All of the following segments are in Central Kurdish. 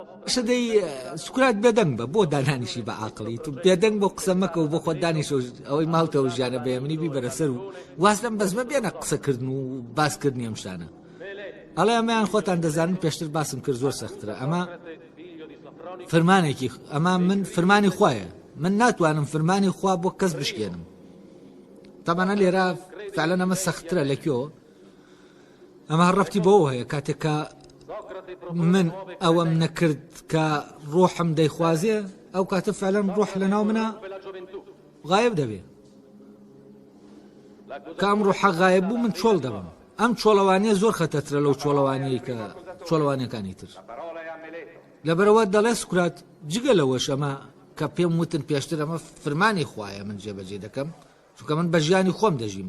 باشە دەی سوکرات بێدەنگ بە بۆ دانانیشی بە عقلی تو بێدەنگ بۆ قسە مەکە و بۆ خۆ دانیش ئەوەی ماوتە و ژیانە بەێمنی بی بەرەسەر و واز لەم بەزمە بێنە قسەکردن و باسکردنی ئەم شتانە ئەڵێ ئەمەیان خۆتان دەزانن پێشتر باسم کرد زۆر سەخترە ئەمە فرمانێکی ئەمە من فرمانی خوایە من ناتوانم فرمانی خوا بۆ کەس بشکێنم تەمانە لێرە فعلەن ئەمە سەخترە لەکوێ ئەمە هەر ڕفتی بەوە هەیە کاتێک کە من ئەوەم نەکرد کە ڕۆحم دەیخوازێ ئەو کاتە فعلەن ڕۆح لە ناو منە غایب دەبێ کام ڕۆحە غایب بوو من چۆڵ دەبم ئەم چۆڵەوانیە زۆر خەتەترە لەو چۆڵەوانەیە کە چۆڵەوانەکانی تر لەبەرەوە دەڵێ سکرات جگە لەوەش ئەمە کە پێم وتن پێشتر ئەمە فرمانی خوایە من جێبەجێ دەکەم چونکە من بە ژیانی خۆم دەژیم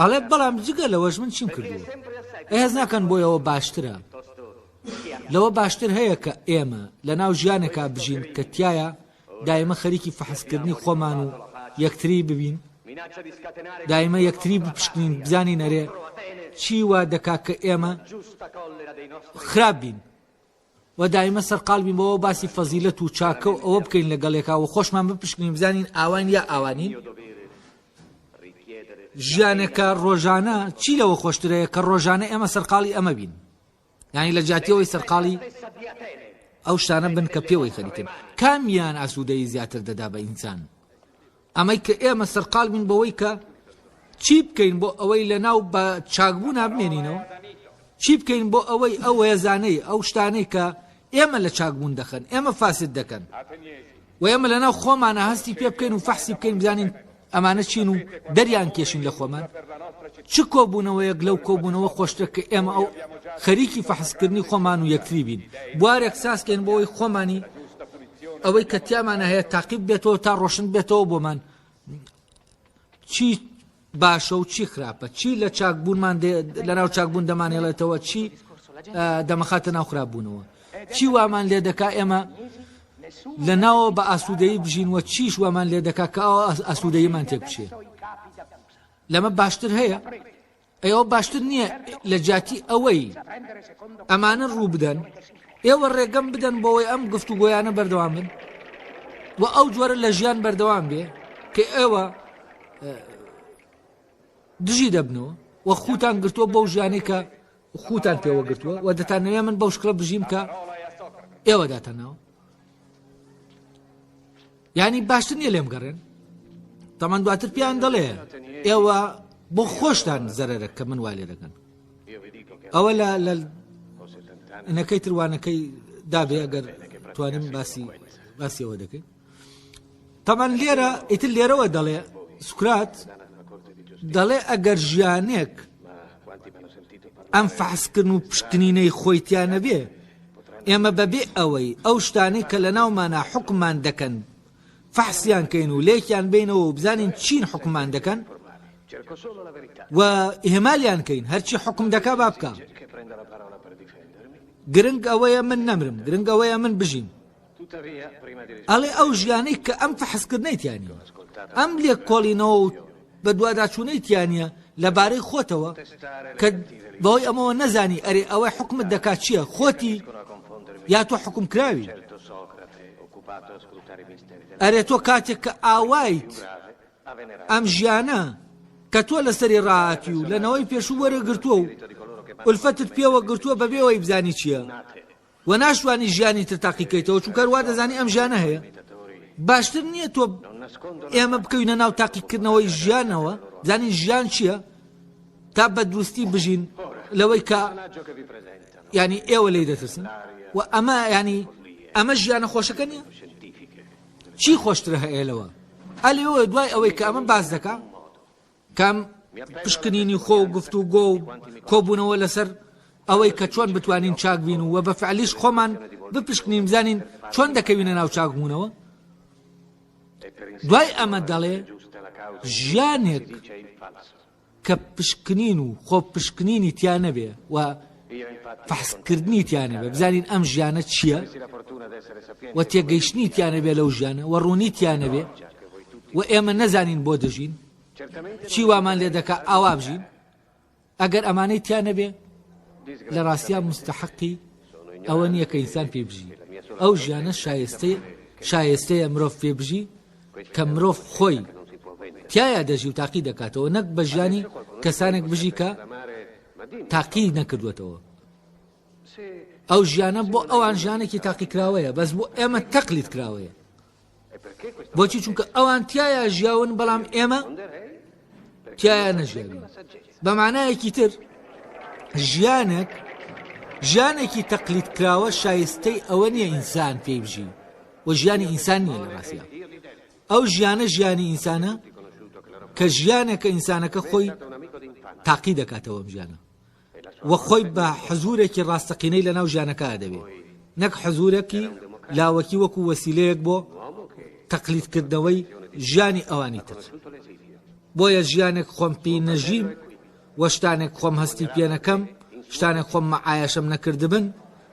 ئەڵێت بەڵام جگە لەوەش من چیم کردووە بەهێز ناکەن بۆی ئەوە باشترە لەوە باشتر هەیە کە ئێمە لە ناو ژیانێکا بژین کە تایە دایمە خەریکی فەحسکردنی خۆمان و یەکتری ببین دایمە یەکتری بپشکنین بزانین نەرێ چی وا دەکا کە ئێمە خراپ بین وە دایمە سەر قالبین بەوە باسی فەزیلەت و چاکە و ئەوە بکەین لە گەڵێکا وە خۆشمان بپشکنین بزانین ئاواین یا ئاوانین ژیانێکە ڕۆژانە چی لەوە خۆشترەیە کە ڕۆژانە ئێمە سەرقاڵی ئەمە بین یانی لە جاتیەوەی سەرقاڵی ئەو شتانە بن کە پێوەی خەریکن کامیان ئاسوودەی زیاتر دەدا بە ئینسان ئەمەی کە ئێمە سەرقال بووین بەوەی کە چی بکەین بۆ ئەوەی لە ناو بە چاکبوونا بمێنینەوە چی بکەین بۆ ئەوەی ئەو هێزانەی ئەو شتانەی کە ئێمە لە چاکبوون دەخەن ئێمە فاسد دەکەن و ئێمە لە ناو خۆمانە هەستی پێ بکەین و فەحسی بکەین بزانین ئەمانە چین و دەریان کێشین لە خۆمان چ کۆبوونەوەیەک لەو کۆبوونەوە خۆشتە کە ئێمە ئەو خەریکی فەحسکردنی خۆمان و یەکتری بین بوارێک سازکەین بۆی خۆمانی ئەوەی کە تیامانە هەیە تاقیب بێتەوە تا ڕۆشن بێتەوە بۆمان چی باشە و چی خراپە چی لە چاکبوونمان لەناو چاکبوون دەمانێڵێتەوە چی دەمەخاتە ناو خراپبوونەوە چی وامان لێ دەکا ئێمە لە ناوە بە ئاسوودەی بژین وە چیش وامان لێ دەکا کە ئەوە ئاسوودەیمان تێک بچێ لەمە باشتر هەیە ئەوە باشتر نییە لە جیاتی ئەوەی ئەمانە ڕووبدەن، ئێوە ڕێگەم بدەن بۆەوەی ئەم گفتوگۆیانە بەردەوام بن و ئەو جۆرە لە ژیان بەردەوام بێ کە ئێوە دژی دەبنەوە و خوتان گرتووە بەو ژیانی کە خوتان پێوە گرتووە و دەتانەوێ من بەو شکڵە بژیم کە ئێوە داتەناوە یانی باشتر نیە لێم گەڕێن تەمان دواتر پێیان دەڵێ ئێوە بۆ خۆشتان زەرەرە کە من والێ دەکەن ئەوە لە لە نەکەی تروانەکەی دابێ ئەگەر توانم باسی باسیەوە دەکەین تەمان لێرە ئیتر لێرەوە دەڵێ سوکرات دەڵێ ئەگەر ژیانێک ئەم فحسکردن و پشکنینەی خۆیتیانە بێ ئێمە بەبێ ئەوەی ئەو شتانەی کە لەناومانە حوکممان دەکەن فەحسیان کەین و لێکیان بێینەوە و بزانین چین حوکممان دەکەن و ئیهمالیان کەین هەرچی حوکم دەکا با بکا گرنگ ئەوەیە من نەمرم گرنگ ئەوەیە من بژیم ئەڵێ ئەو ژیانەی کە ئەم فەحسکردنەی تیا نییە، ئەم لێکۆڵینەوە و بەدواداچوونەی تیا نییە لە بارەی خۆتەوە کە بەوەی ئەمەوە نەزانی ئەرێ ئەوەی حکومت دەکات چییە خۆتی یا تۆ حکوم کراوی ئەرێ تۆ کاتێک کە ئاوایت ئەم ژیانە کە تۆ لەسەری ڕاهاتی و لەنەوەی پێشوو وەرەگرتووە و ئولفەتت پێوە گرتووە بەبێەوەی بزانی چییە وە ناشتوانی ژیانی تر تاقیکەیتەوە چونکە هەر وادەزانی ئەم ژیانە هەیە باشتر نییە تۆ ئێمە بکەوینە ناو تاقیکردنەوەی ژیانەوە زانین ژیان چییە تا بە دروستی بژین لەوەی کە ینی ئێوە لی دەترسن و ئەمە ینی ئەمە ژیانە خۆشەکە نیە چی خۆشترە هەیە لەوە ئەلەوە دوای ئەوەی کە ئەمە باز دەکە کام، پشکنینی خۆ و گفتوگۆ و کۆبوونەوە لەسەر ئەوەی کە چۆن بتوانین چاک بین و بە فعلیش خۆمان بپشکنین بزانین چۆن دەکەوینە ناو چاکبوونەوە؟ دوای ئەمە دەڵێ ژیانێک کە پشکنین و خۆ پشکنینی تیا نەبێ و فحسکردنی تیانە بێ بزانین ئەم ژیانە چییە و تێگەیشتنی تیانە بێ لەو ژیانە و ڕوونی تیانە بێ و ئێمە نەزانین بۆ دەژین چی وامان لێ دەکا ئاوا بژین ئەگەر ئەمانەی تیا نەبێ لە ڕاستیا مستحقی ئەوە نییە کە ئینسان پێ بژی ئەو ژیانە شایستەی شایستەیە مرۆڤ پێ بژی کە مرۆڤ خۆی تایە دەژی و تاقی دەکاتەوە نەک بە ژیانی کەسانێک بژی کە تاقی نەکردوێتەوە ئەو ژیانە بۆ ئەوان ژیانێکی تاقیکراوەیە بەس بۆ ئێمە تەقلیت کراوەیە بۆچی چونکە ئەوان تایە ژیاون بەڵام ئێمە تایە نەژیاوی بەمانایەکی تر ژیانێک ژیانێکی تەقلیت کراوە شایستەی ئەوە نییە ئینسان پێی بژی و ژیانی ئینسان نییە لە ڕاستە ئەو ژیانە ژیانی ئینسانە کە ژیانێکە ئینسانەکە خۆی تاقی دەکاتەوە ژیانە و خۆی بە حزوورێکی ڕاستەقینەی لەناو ژیانەکە دەبینێت نەک حزوورێکی لاوەکی وەکو وەسیلەیەک بۆ تەقلیدکردنەوەی ژیانی ئەوانی تر بۆیە ژیانێک خۆم پێی نەژیم وە شتانێک خۆم هەستی پێنەکەم شتانێک خۆم مەعایەشم نەکردبن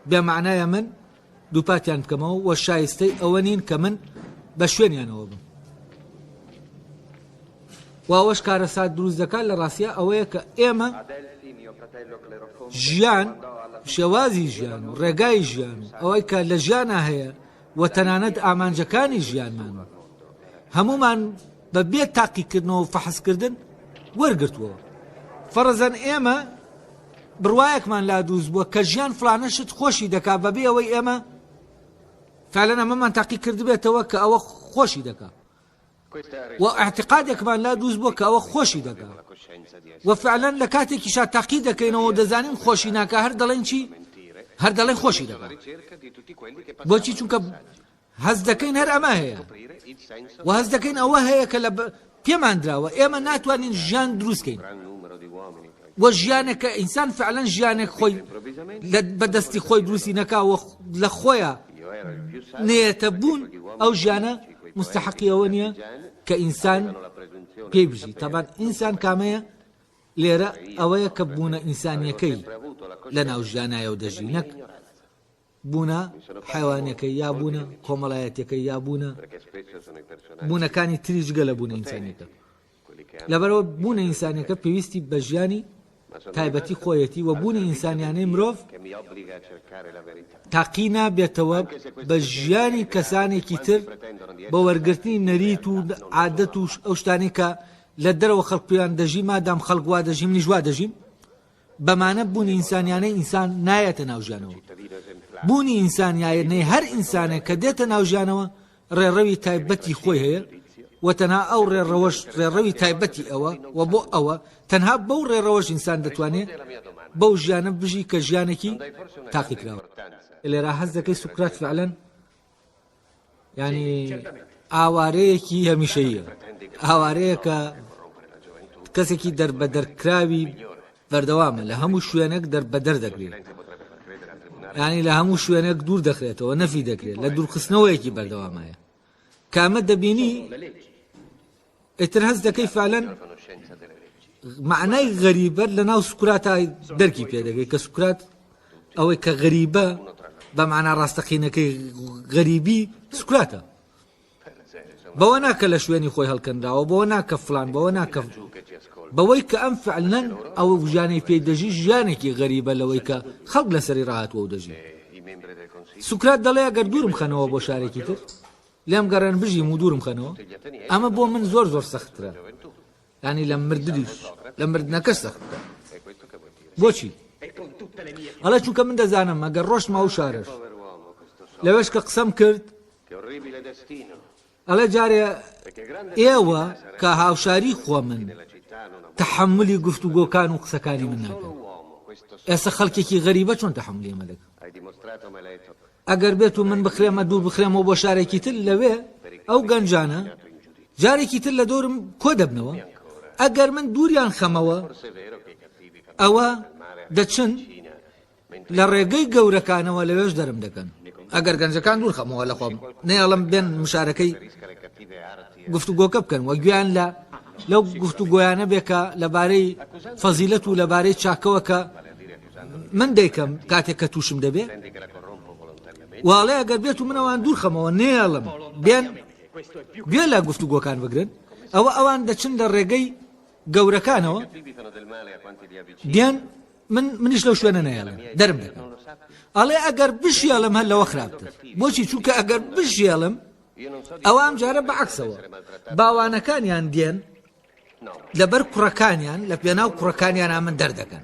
بێمانایە من دووپاتیان بکەمەوە و شایستەی ئەوە نین کە من بە شوێنیانەوە بم و ئەوەش کارەسات دروست دەکات لە ڕاستیا ئەوەیە کە ئێمە ژیان شێوازی ژیان و ڕێگای ژیان و ئەوەی کە لە ژیانە هەیە و تەنانەت ئامانجەکانی ژیانمان هەمومان بە بێ تاقیکردنەوەو فەحسکردن وەرگرتووەوە فەڕزەن ئێمە بڕوایەکمان لا دروست بووە کە ژیان فلانە شت خۆشی دەکا بە بێ ئەوەی ئێمە فعلەن ئەمەمان تاقی کردبێتەوە کە ئەوە خۆشی دەکا و اعتقادێکمان لا دروست بووە کە ئەوە خۆشی دەکا و فعلەن لە کاتێکی شا تاقی دەکەینەوە دەزانین خۆشی ناکە هەر دەڵێن چی هەر دەڵێن خۆشی دەکا بۆچی چونکە هەست دەکەین هەر ئەمە هەیە و هەست دەکەین ئەوە هەیە کە لە پێمان دراوە ئێمە ناتوانین ژیان دروستکەین وە ژیانێکە ئینسان فعلەن ژیانێک خۆی بەدەستی خۆی دروستی نەکا لە خۆیە نێتە بوون ئەو ژیانە مستحقیەوە نییە کە ئینسان پێی بژی تەبان ئینسان کامەیە لێرە ئەوەیە کە بوونە ئینسانیەکەی لە ناو ژیانایەوە دەژی نەک بوونە حەیوانیەکەی یا بوونە کۆمەڵایەتیەکەی یا بوونە بوونەکانی تری جگە لە بوونە ئینسانیەکە لەبەرەوە بوونە ئینسانەکە پێویستی بە ژیانی تایبەتی خۆیەتی و بوونی ئینسانیانەی مرۆڤ تاقی نابێتەوە بە ژیانی کەسانێکی تر بە وەرگرتنی نەریت و عادەت و ئەو شتانی کە لە دەرەوە خەڵکیان دەژی مادام خەڵکوا دەژیم نیژوا دەژیم بەمانە بوونی ئینسانیانەی ئینسان نایەتە ناو ژیانەوە. بوونی ئینسانیایەنەی هەر ئینسانێک کە دێتە ناو ژیانەوە ڕێڕەوی تایبەتی خۆی هەیە و تەنها ئەو ڕێڕەوەش ڕێڕەوی تایبەتی ئەوە و بۆ ئەوە تەنها بەو ڕێڕەوەش ئینسان دەتوانێت بەو ژیانە بژی کە ژیانێکی تاقیکراوە. لێرا هەست دەکەی سوکرات فعلەن یانی ئاوارەیەکی هەمیشەییە ئاوارەیەکە کەسێکی دەربەدەرکراوی بەردەوامە لە هەموو شوێنێک دەربەدەر دەکرێت ینی لە هەموو شوێنێک دوور دەخرێتەوە نەفی دەکرێت لە دوورخستنەوەیەکی بەردەوامایە کامە دەبینی ئیتر هەست دەکەی فالەن مەعنای غەریبەت لە ناو سوکراتا دەرکی پێ دەگەی کە سوکرات ئەوەی کە غەریبە بە مانا ڕاستەقینەکەی غەریبی سوکراتە بەوە ناکە لە شوێنی خۆی هەڵکەنراوە بۆ ناکە فلان بەوە ناکە بەوەی کە ئەم فعلەن ئەو ژیانەی پێی دەژی ژیانێکی غەریبە لەوەی کە خەڵک لەسەری ڕاهاتوە و دەژی سوکرات دەڵێ گەر دوورم خەنەوە بۆ شارێکی تر لێم گەڕێن بژیم و دوورم خەنەوە ئەمە بۆ من زۆر زۆر سەختترە ینی لە مردنیش لە مردنەکەش سەختترە بۆچی ئەڵە چووکە من دەزانم ئەگەر ڕۆژ ما و شارش لەوێش کە قسەم کرد ئەڵێ جارێ ئێوە کە هاوشاری خۆ من تحملی گفت و گۆکان و قسەکانی من ناکەن ئێستا خەڵکێکی غەریبە چۆن تحملی مەلک ئەگەر بێت و من بکرێمە دوور بخرێمەوە بۆ شارێکی تر لەوێ ئەو گەنجانە جارێکی تر لە دەورم کۆ دەبنەوە ئەگەر من دووریان خەمەوە ئەوە دەچن لە ڕێگەی گەورەکانەوە لەوێش دەرم دەکەن ئەگەر گەنجەکان دوور خەمەوە لە خۆم نێڵم بێن مشارەکەی گفتوگۆکە بکەن وە گویان لە لەو گفتوگۆیانە بێکە لەبارەی فەزیلەت و لەبارەی چاکەوە کە من دەیکەم کاتێک کە تووشم دەبێ واڵێ ئەگەر بێت و منەوان دوورخەمەوە نێڵم بێن گوێ لە گفتوگۆکان بگرن ئەوە ئەوان دەچن لە ڕێگەی گەورەکانەوە دیان من منیش لەو شوێنە نایڵم دەرم دەکەم ئەڵێ ئەگەر بشیڵم هەر لەوە خراپتر بۆچی چونکە ئەگەر بشیڵم ئەوە ئەم جارە بەعکسەوە باوانەکانیان دێن لەبەر کوڕەکانیان لەپێناو کوڕەکانیانا من دەردەکەن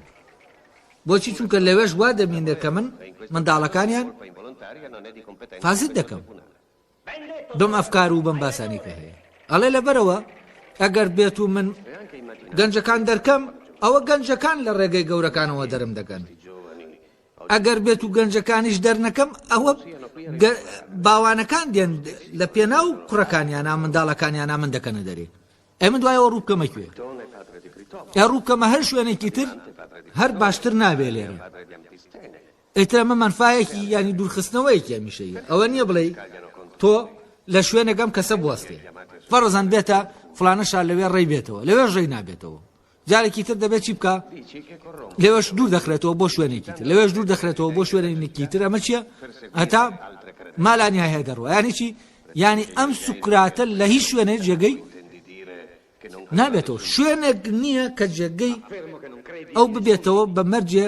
بۆچی چونکە لەوێش وا دەبینێت کە من منداڵەکانیان فازد دەکەم بم ئەفکار و بم باسانی کە هەیە ئەڵێ لەبەرەوە ئەگەر بێت و من گەنجەکان دەرکەم ئەوە گەنجەکان لە ڕێگەی گەورەکانەوە دەرم دەکەن ئەگەر بێت و گەنجەکانیش دەرنەکەم ئەوە باوانەکان دێن لە پێناو کوڕەکانیانە منداڵەکانیانە من دەکەنە دەرێ ئەی من دوایەوە ڕووکەمە کوێ ئە ڕووکەمە هەر شوێنێکی تر هەر باشتر نابێ لێ ئێتر ئەمە منفاەکی ینی دوورخستنەوەیەکی ئەمیشەی ئەوە نییە بڵێ تۆ لە شوێنەکەم کەسە بوەستێ فەرزان بێتە فلانەشار لەوێ ڕێ بێتەوە لەوێ ڕێی نابێتەوە جارێکی تر دەبێت چی بکا لەوێش دوور دەخرێتەوە بۆ شوێنێکی تر لەوێش دوور دەخرێتەوە بۆ شوێنێکی تر ئەمە چییە هەتا مالانی هەیە دەڕوە ینی چی ینی ئەم سوکراتە لە هیچ شوێنێ جێگەی نابێتەوە شوێنێک نییە کە جێگەی ئەو ببێتەوە بە مەرجێ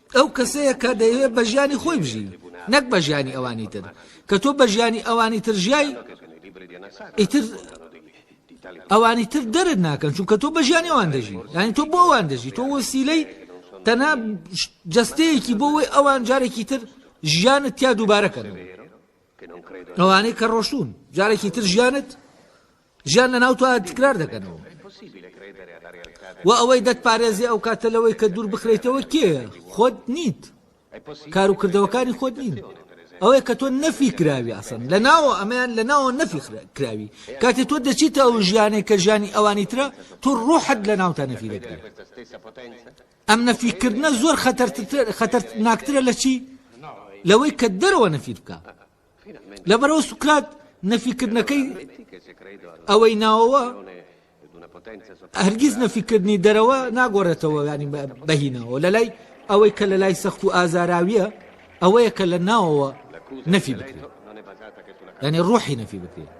ئەو کەسەیە کە دەیەوێت بە ژیانی خۆی بژی نەک بە ژیانی ئەوانی تر کە تۆ بە ژیانی ئەوانی تر ژیای ئیتر ئەوانی تر دەرت ناکەن چونکە تۆ بە ژیانی ئەوان دەژی یانی تۆ بۆ ئەوان دەژی تۆ وەسیلەی تەنا جستەیەکی بۆەوەی ئەوان جارێکی تر ژیانت تیا دووبارەکەن ئەوانەی کە ڕۆشتون جارێکی تر ژیانت ژیان لەناو تۆ تکرار دەکەنەوە و ئەوەی دەتپارێزی ئەو کاتە لەوەی کە دوور بخریتەوە کێ خۆت نیت کار و کردەوەکانی خۆت نین ئەوەیە کە تۆ نەفی کراوی ئاسن لە ناوە ئەمەیان لە ناوە نەفی کراوی کاتێ تۆ دەچیتە ئەو ژیانێک کە ژیانی ئەوانی ترە تۆ ڕۆحت لە ناوتا نەفی دەکرێت ئەم نەفیکردە زۆر خەتەرتر ناکترە لە چی لەوەی کە دەرەوە نەفی بکە لەبەرەو سوکرات نەفیکردنەکەی ئەوەی ناوەوە هەرگیز نەفیکردنی دەرەوە ناگۆڕێتەوە ینی بەهینەوە لە لای ئەوەی کە لە لای سەخت و ئازاراویە ئەوەیە کە لە ناوەوە نەفی بکرێت ینی ڕۆحی نەفی بکرێت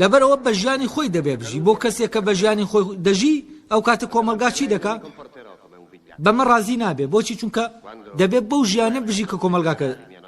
لەبەرەوە بە ژیانی خۆی دەبێ بژی بۆ کەسێک کە بە ژیانی خۆی دەژی ئەو کاتە کۆمەلگا چی دەکا بەمە ڕازی نابێ بۆچی چونکە دەبێت بەو ژیانە بژی کە کۆمەلگاکە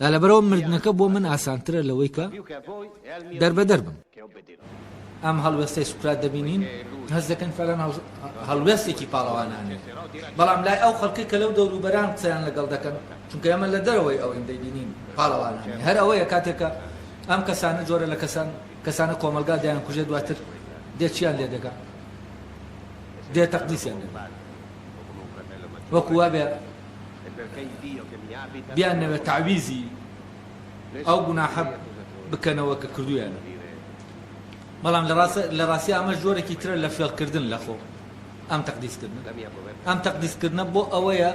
دا لەبەرئەوە مردنەکە بۆ من ئاسانترە لەوەی کە دەربەدەر بم. ئەم هەڵوێستەی سوکرات دەبینین هەست دەکەین فەلان هەڵوێستێکی پاڵەوانانەیە بەڵام لای ئەو خەڵکەی کە لەو دەوروبەران قسەیان لەگەڵ دەکەن چونکە ئێمە لە دەرەوەی ئەوەین دەیبینین پاڵەوانانەیە هەر ئەوەیە کاتێکە ئەم کەسانە جۆرە لە کەسان کەسانە کۆمەلگا دەیان کوژێ دواتر دێ چیان لێ دەگا دێ تەقدیسیان دەگا وەکو وابێ بیانەوێت تەعویزی ئەو گوناحە بکەنەوە کە کردوویانە بەڵام لە ڕاستی ئەمەش جۆرێکی ترە لە فێڵکردن لە خۆ ئەم تەقدیسکردنە ئەم تەقدیسکردنە بۆ ئەوەیە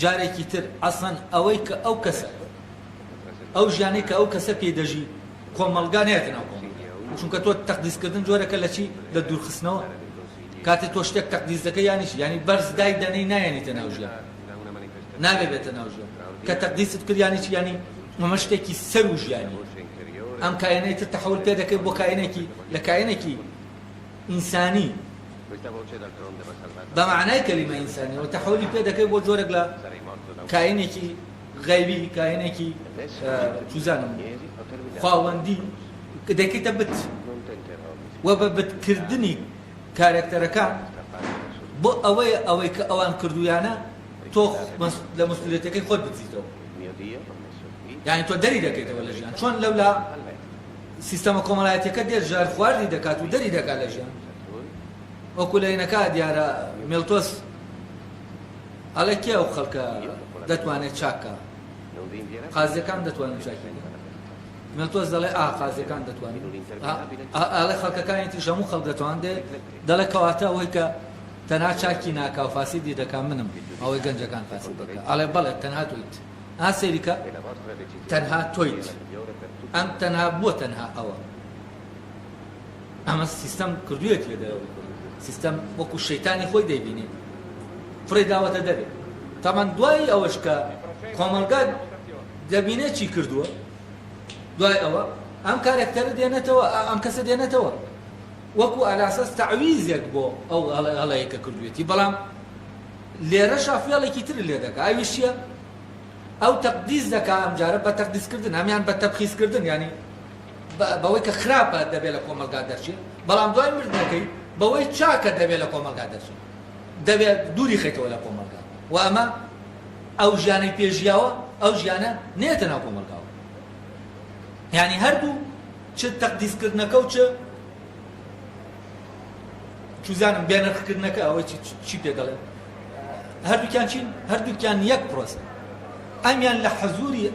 جارێکی تر ئەسڵەن ئەوەی کە ئەو کەسە ئەو ژیانەی کە ئەو کەسە پێی دەژی کۆمەڵگا نەیەتە ناو کۆمەڵگا چونکە تۆ تەقدیس کردن جۆرەکە لە چی لە دوورخستنەوە کاتێ تۆ شتێک تەقدیس دەکە یانیش یانی بەرز دای دەنەی نایەنیتە ناو ژیان ناوێ بێتە ناو ژیان کە تەقدیست کردیانی چی ینی مەمە شتێکی سەر و ژیانی ئەم کاەنەی تر تەحول پێ دەکەی بۆ کاەنێکی لە کاەنێکی ئینسانی بەمانای کەلیمە ئینسانیەوە تەحولی پێ دەکەی بۆ جۆرەك لە کاینێکی غەیبی کاهینێکی چوزانم خواوەندی دەکەیتە بت و بە بتکردنی کارەکتەرەکان بۆ ئەوەیە ئەوەی کە ئەوان کردوویانە تۆ لە مەسئولیەتەکەی خۆت بدزیتەوە یانی تۆ دەری دەکەیتەوە لە ژیان چۆن لەولا سیستەمە کۆمەڵایەتەکە دێت ژار خواردی دەکات و دەری دەکات لە ژیان وەکو لە هینەکە دیارە مێلتۆس ئەڵێ کێ ئەو خەڵکە دەتوانێ چاک کا؟ قازیەکان دەتوانن چاکی بکەن. مێتۆس دەڵێ ئا قازیەکان دەتوانن. ئا ئەڵێ خەڵکەکانی تریش هەموو خەڵک دەتوان دێ دەڵێ کەواتە ئەوەی کە تەنها چاکی ناکا و فاسیدی دەکا منم ئەوەی گەنجەکان فاسید دەکا ئەڵێ بەڵێ تەنها تۆیت ئا سەیری کە تەنها تۆیت ئەم تەنها بۆ تەنها ئەوە. ئەمە سیستەم کردوویەتی لە دەرەوەی خۆی سیستەم وەکو شەیتانی خۆی دەیبینێت فڕێ داوەتە دەرێ تامان دوایی ئەوەش کە کۆمەلگا دەبینێت چی کردووە دوای ئەوە ئەم کارەکتەرە دێنێتەوە ئەم کەسە دێنێتەوە وەکو ئەلاسەس تەعویزێک بۆ ئەو هەڵەیە کە کردوێتی بەڵام لێرە شافێڵێکی تر لێ دەکە ئەویش چیە ئەو تەقدیز دەکا ئەمجارە بە تەقدیزکردن هەمان بە تەبخیزکردن ینی بەوەی کە خراپە دەبێت لە کۆمەڵگا دەرچێت، بەڵام دوای مردنەکەی بەوەی چاکە دەبێت لە کۆمەڵگا دەرچێت، دەبێت دووریخەیتەوە لە کۆمەڵگا و ئەمە ئەو ژیانەی پێ ژیاوە ئەو ژیانە نێتە ناو کۆمەڵگاوە یانی هەردوو چ تەقدیسکردنەکە و چ چوزانم بێنرخکردنەکە ئەوەی چی پێ دەڵێن هەردووکیان چین هەردووکیان یەک پرۆسە ئەمیان لە حەزوری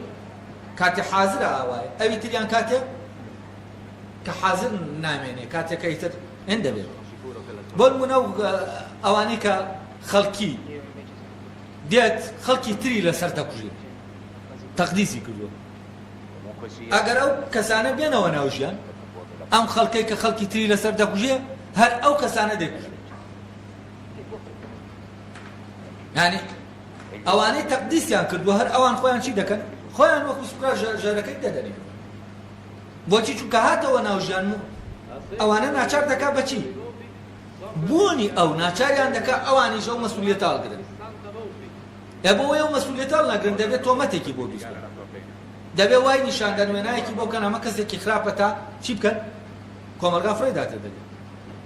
کاتێ حازرە ئاوایە ئەوی تریان کاتێ کە حازر نامێنێ کاتێ کە ئیتر ئێن دەبێت بۆ نمونە ئەوانەی کە خەڵکی دێت خەڵکی تری لەسەر دەکوژێت تەقدیسی کردووە ئەگەر ئەو کەسانە بێنەوە ناوژیان ئەم خەڵکەی کە خەڵکی تری لەسەر دەکوژێ هەر ئەو کەسانە دەکوژێت یانی ئەوانەی تەقدیسیان کردووە هەر ئەوان خۆیان چی دەکەن خۆیان وەکو سوکا ژەرەکەی دەدەنێن بۆچی چونکە هاتەوە ناوژیان و ئەوانە ناچار دەکا بەچی بوونی ئەو ناچاریان دەکا ئەوانی ژەو مەسوولێتاڵ گرن ئە بۆ ئەو مەسوولێتاڵ ناگرن دەبێت تۆمەتێکی بۆ بیست دەبێ وای نیشاندان وێنایەکی بۆ کەن ئەمە کەسێکی خراپە تا چی بکەن کۆمەلگا فڕێ داتێ دەبێت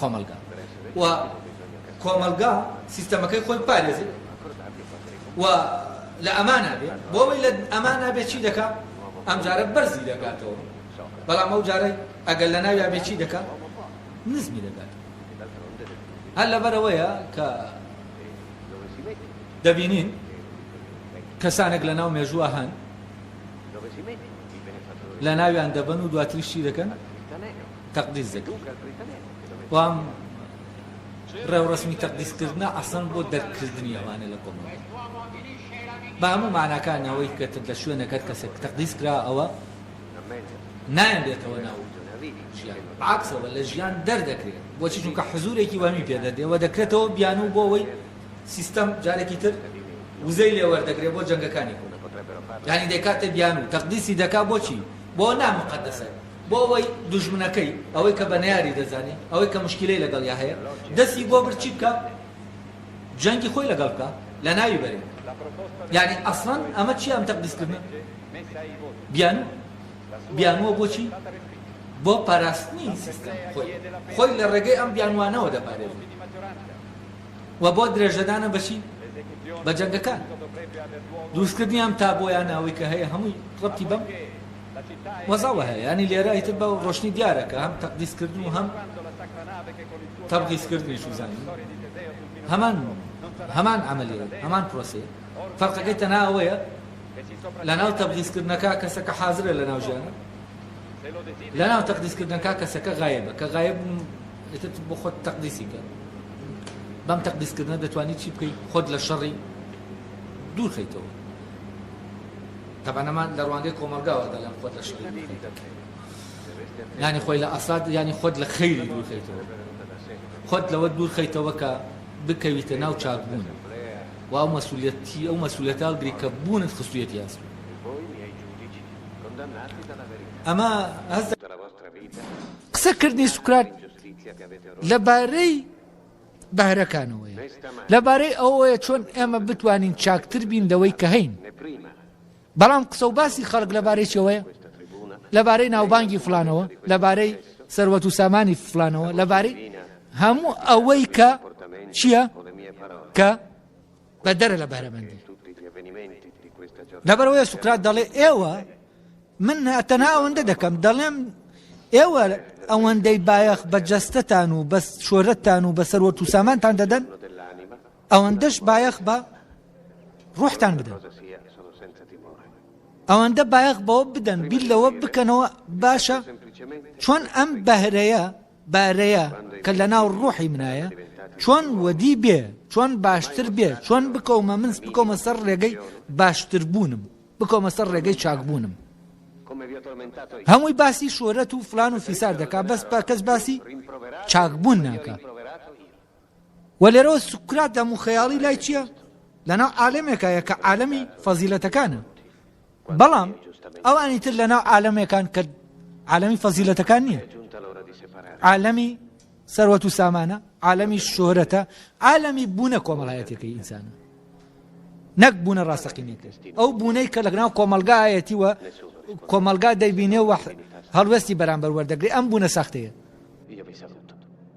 کۆمەڵگا و کۆمەڵگا سیستەمەکەی خۆی بپارێزێت و لە ئەمانا بێ بۆ ئەوەی لە ئەمانا بێ چی دەکا ئەمجارە بەرزی دەکاتەوە بەڵام ئەو جارەی ئەگەر لە ناویا بێ چی دەکا نزمی دەکات هەر لەبەرەوەیە کە دەبینین کەسانێک لە ناو مێژووە هەن لە ناویان دەبن و دواتریشی دەکەن تەقدیس دەکرد و ئەم ڕێوڕەسمی تەقدیسکردنە ئەسڵەن بۆ دەرکردنی ئەوانە لە کۆمەڵگە بە هەموو ماناکانی ئەوەی کە لە شوێنەکە کەسێک تەقدیس کرا ئەوە نایەن بێتەوە ناو ژیان عکسەوە لە ژیان دەردەکرێت بۆچی چونکە حزورێکی وەمی پێ دەردێەوە دەکرێتەوە بیانوو بۆ ئەوەی سیستەم جارێکی تر وزەی لێ وەردەگرێت بۆ جەنگەکانی خۆ یعنی دەکاتە بیانوو تەقدیسی دەکا بۆچی بۆ نامقدسە بۆ ئەوەی دوژمنەکەی، ئەوەی کە بە نەیاری دەزانێ، ئەوەی کە موشکیلەی لەگەڵیا هەیە، دەستی بۆ برد چی بکا؟ جەنگی خۆی لەگەڵ بکا، لەناوی بەرێ. یەعنی ئەسڵەن ئەمە چییە ئەم تەقدیسکردنە؟ بیانووە. بیانووە بۆ چی؟ بۆ پاراستنی سیستەم، خۆی. خۆی لە ڕێگەی ئەم بیانووانەوە دەپارێزێ. و بۆ درێژەدانە بە چی؟ بە جەنگەکان. دروستکردنی ئەم تابۆیانە ئەوەی کە هەیە هەمووی ڕەبتی بەم. وەزاوە هەیە یانی لێرە ئیتر بە ڕۆشنی دیارە کە هەم تەقدیس کردن و هەم تەبغیس کردنیش و زانین هەمان هەمان عەمەلیەیە هەمان پرۆسەیە فەرقەکەی تەنها ئەوەیە لە ناو تەبغیس کردنەکە کەسەکە حازرە لە ناو ژیانە لە ناو تەقدیس کردنەکە کەسەکە غایبە کە غایب ئیتر بۆ خۆت تەقدیسی کە بەم تەقدیس کردنە دەتوانیت چی بکەیت خۆت لە شەڕی دوور خەیتەوە تەبعەن ئەمە لە ڕوانگەی کۆمەڵگاوە دەڵێم خۆت لە شەڕی دوور خەیتەوە یانی خۆی لە ئەساد یانی خۆت لە خەیری دوور خەیتەوە خۆت لەوە دوور خەیتەوە کە بکەویتە ناو چاکبوون و ئەو مەسوولەتی ئەو مەسوولەتە هەڵگری کە بوونت خستوویەتی ئەستۆ ئەمە هەست قسە کردنی سوکرات لە بارەی بەهرەکانەوەیە لەبارەی ئەوەیە چۆن ئێمە بتوانین چاکتر بین لەوەی کە هەین بەڵام قسە و باسی خەڵک لەبارەی چەوەیە لەبارەی ناوبانگی فلانەوە لەبارەی سەروەت و سامانی فلانەوە لەبارەی هەموو ئەوەی کە چییە کە بەدەرە لە بەهرەمەندی. لەبەرەوەیە سوکرات دەڵێ ئێوە من تەنها ئەوەندە دەکەم دەڵێم ئێوە ئەوەندەی بایەخ بە جەستتان و بەس شۆرەتتان و بەسەر وە تووسامانتان دەدەن ئەوەندەش بایەخ بە ڕوحتان بدەن ئەوەندە بایەخ بەوە بدەن بیر لەوە بکەنەوە باشە چۆن ئەم بەهرەیە بارەیە کە لەناو ڕوحی منایە چۆن وەدی بێ چۆن باشتر بێ چۆن بکەومە منس بکەومە سەر ڕێگەی باشتربوونم بکەومە سەر ڕێگەی چاکبوونم هەمووی باسی شۆرەت و فلان و فیسار دەکا بەس پاکەس باسی چاکبوون ناکە وە لێرەوە سوکرات دەم و خەیاڵی لای چیە؟ لەناو عالەمێکایە کە عالەمی فەزیلەتەکانە بەڵام ئەوانی تر لەناو عالەمێکان کە عالەمی فەزیلەتەکان نییە عالەمی سەروەت و سامانە عالەمی شۆرەتە عالەمی بوونە کۆمەڵایەتەکەی ئینسانە نەک بوونە ڕاستەقینێتی ئەو بوونەی کە لەگەناو کۆمەلگایەتی وە کۆمەلگا دەیبینێ وە هەڵوێستی بەرامبەر وەردەگری ئەم بوونە ساختەیە